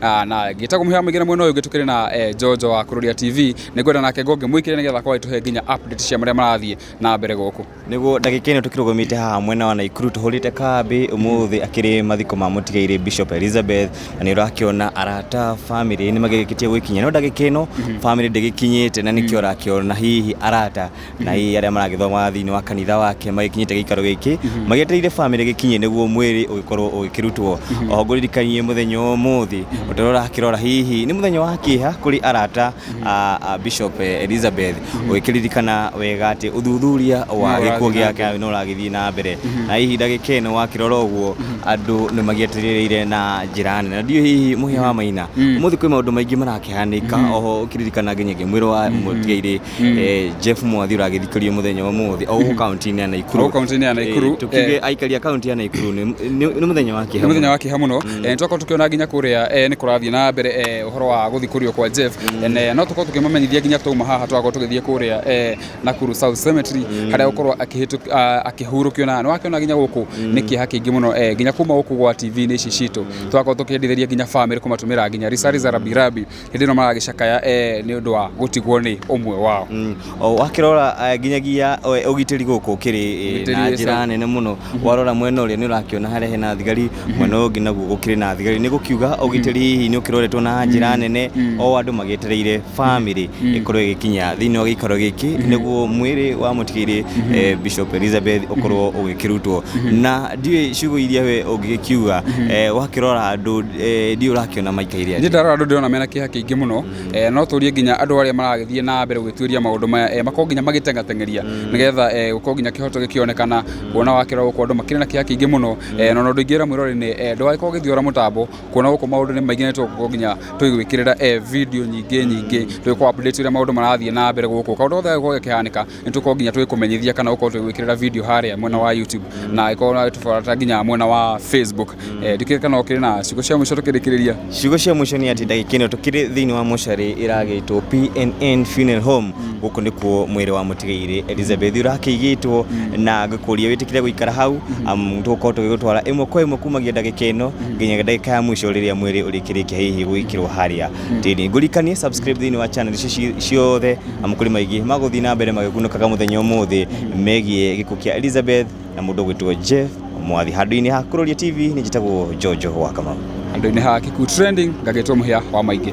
Ah, na ngĩta kũmũhĩa mũingĩ na mwena ũyũ ũngĩ tũkĩrĩ na eh, Jojo wa Kururia TV nĩ ngwenda nake ngonge mwĩkĩre nĩgetha akorwo agĩtũhe nginya update cia marĩa marathiĩ na mbere gũkũ niguo ndagika ino tukirugumite haha mwena wa naikuru tuhurite kambi umuthi akiri mathiko ma mutigaire bishop elizabeth na ni urakiona arata family ni magikitie gwikinya no ndagika ino family ndigikinyite na nikio urakiona hihi arata na hihi arĩa maragĩthoma thĩinĩ wa kanitha wake magĩkinyĩte gĩikaro gĩkĩ magĩetereire bamĩrĩ gĩkinye nĩguo mwĩrĩ ũgĩkorwo ũgĩkĩrutwo oho ngũririkanie mũthenya wa ũmũthĩ ũtarĩ ũrakĩrora hihi nĩ mũthenya wa kĩeha kũrĩ arata a a Bishop eh, Elizabeth ũgĩkĩririkana wega atĩ ũthuthuria wa No gĩkuũ ũrathiĩ na gĩake no ũragĩthiĩ na mbere na hihi ndagĩka ĩno wakĩrora ũguo andũ nĩ magĩetereire na njĩra nene na ndiũ hihi mũhĩa wa maina ũmũthĩ kwĩ maũndũ maingĩ marakĩhanĩka oho ũkĩririkana nginyagia mwĩrĩ wa mũtigairĩ eh, Jeff Mwathi ũragĩthikĩrio mũthenya wa ũmũthĩ o gũkũ kaunti-inĩ ya Hau Naikuru kaunti-inĩ ya Naikuru Eh, tukiuge eh, aikari a kaunti ya Naikuru nĩ- nĩ nĩ mũthenya wa nĩ kĩeha mũthenya mũno. wa kĩha mũno Eh, nĩ twakorwo tũkĩona nginya kũrĩa eh, nĩ kũrathiĩ na mbere eh, ũhoro wa gũthikũrio kwa Jeff Eh, na- no tũkorwo tũkĩmamenyithia nginya twauma haha twakorwo tũgĩthiĩ kũrĩa eh, Nakuru South Cemetery harĩa gũkorwo akĩhĩtũk- ah, akĩhurũkio na nĩ wakĩona nginya gũkũ nĩ kĩeha kĩingĩ mũno eh, nginya kuma gũkũ gwa TV-inĩ ici citũ twakorwo tũkĩendithĩria nginya famĩlĩ kũmatũmĩra nginya risari za rabirabi hĩndĩ ĩno maragĩcakaya eh, nĩ ũndũ wa gũtigwo nĩ ũmwe wao Mm. O, wakĩrora eh, nginyagia eh, ũgitĩri gũkũ ũkĩrĩ eh, Ũgitĩri na wĩ njĩra sawa. nene mũno warora mwena ũrĩa nĩ ũrakĩona harĩa hena thigari mwena ũyũ ũngĩ naguo gũkĩrĩ na thigari nĩ gũkiuga ũgitĩri hihi nĩ ũkĩroretwo na njĩra nene o andũ magĩetereire bamĩrĩ ĩkorwo ĩgĩkinya thĩinĩ wa gĩikaro gĩkĩ nĩguo mwĩrĩ wa mũtigĩrĩ eh, Bishop Elizabeth ũkorwo ũgĩkĩrutwo na ndiũĩ ciugo iria we ũngĩgĩkiuga eh, wakĩrora andũ eh, ndiũ ũrakĩona maikaire Niĩ ndarora andũ ndĩrona mena kĩeha kĩingĩ mũno eh, no tũrie nginya andũ arĩa maragĩthiĩ na mbere gwĩtuĩria maũndũ maya eh, makorwo nginya magĩteng'ateng'eria nĩgetha eh, gũkorwo nginya kĩhoto gĩkĩonekana kuona wakĩrora gũkũ andũ makĩrĩ na kĩeha kĩingĩ mũno eh, na ona ũndũ ingĩra mwĩrore nĩ eh, ndũgagĩkorwo ũgĩthiora mũtambo kuona gũkũ maũndũ nĩ maingĩ na tũgũkorwo nginya tũgĩgwĩkĩrĩra eh, video nyingĩ nyingĩ tũgĩkorwo update ũrĩa maũndũ marathiĩ na mbere gũkũ kaũndũ gothe gagĩkorwo gakĩhanĩka nä tå korwo nginya tå gä kå menyithia kana å korwo tå gä gwä kä rä ra video harä mwena wa youtube na ä korwo tå barata nginya mwena wa facebook Eh, ndikire kana å kä rä na ciugo cia må ico tå kä rä kä rä ria ciugo cia mũico nĩ atĩ ndagĩka ĩno tũkĩrĩ thĩinĩ wa mocarĩ ĩragĩtwo pnn funeral home gũkũ nĩkuo mwĩrĩ wa mũtigairĩ elizabeth ũrakĩigĩtwo na ngĩkũria wĩtĩkĩre gũikara hau amu tũgũkorwo tũgĩgũtwara ĩmwe kwa ĩmwe kumagia ndagĩka ĩno nginya ndagĩka ya mũico rĩrĩa mwĩrĩ ũrĩkĩrĩkia hihi gũgĩkĩrwo harĩa tĩri ngũrikanie subscribe thĩinĩ wa channel ici ci- ciothe na mũkũrĩ maingĩ magũthiĩ na mbere magĩkunũkaga mũthenya ũmũthĩ megiĩ gĩkuũ kĩa Elizabeth na mũndũ ũgwĩtwo Jeff Mwathi. Handũ-inĩ ha Kũroria TV nĩ njĩtagwo Jojo wa Kamau. Handũ-inĩ ha Kikuyu Trending ngagĩtwo mũhĩa wa maingĩ.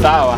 Sawa.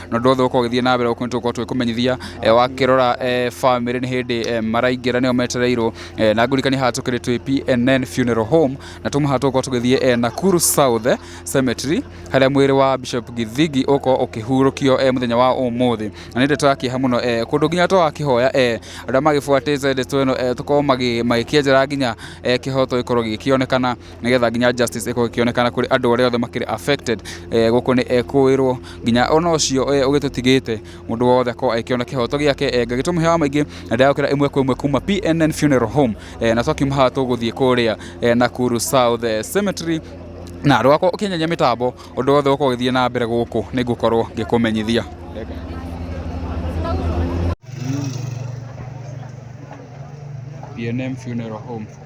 na ũndũ wothe ũkorwo ũgĩthiĩ na mbere gũkũ nĩ tũgũkorwo tũgĩkũmenyithia eh, wakĩrora eh, family nĩ hĩndĩ eh, maraingĩra nĩo metereirwo eh, na ngũrikani haha tũkĩrĩ twĩ PNN funeral home na tuma haha tũgũkorwo tũgĩthiĩ eh, Nakuru South eh, cemetery harĩa mwĩrĩ wa Bishop Githigi ũkorwo ũkĩhurũkio eh, mũthenya wa ũmũthĩ na nĩ ndeto ya kĩeha mũno eh, kũndũ nginya to akĩhoya eh, arĩa magĩbuatĩte ndeto ĩno eh, tũkorwo magĩ- magĩkĩenjera nginya eh, kĩhoto gĩkorwo gĩgĩkĩonekana nĩgetha nginya justice ĩkorwo ĩkĩonekana kũrĩ andũ arĩa othe makĩrĩ affected eh, gũkũ nĩ ekũĩrwo eh, nginya ona ũcio eh, ũgĩtũtigĩte mũndũ wothe akorwo agĩkĩona kĩhoto gĩake eh, ngagĩtũmũ hewa maingĩ na ndagũkĩra ĩmwe kwa ĩmwe kuma PNN Funeral Home eh, na twakiuma haha tũgũthiĩ kũrĩa eh, Nakuru South eh, Cemetery na rwakwa ũkĩnyenye mĩtambo ũndũ wothe ũkorwo ũgĩthiĩ na mbere gũkũ nĩ ngũkorwo ngĩkũmenyithia BNM Funeral Home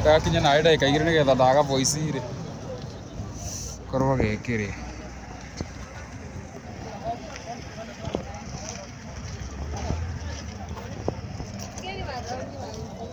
ndagakinya nawe ndagĩka igĩrĩ nĩgetha ndaga voice rĩ korwo gĩkĩ rĩ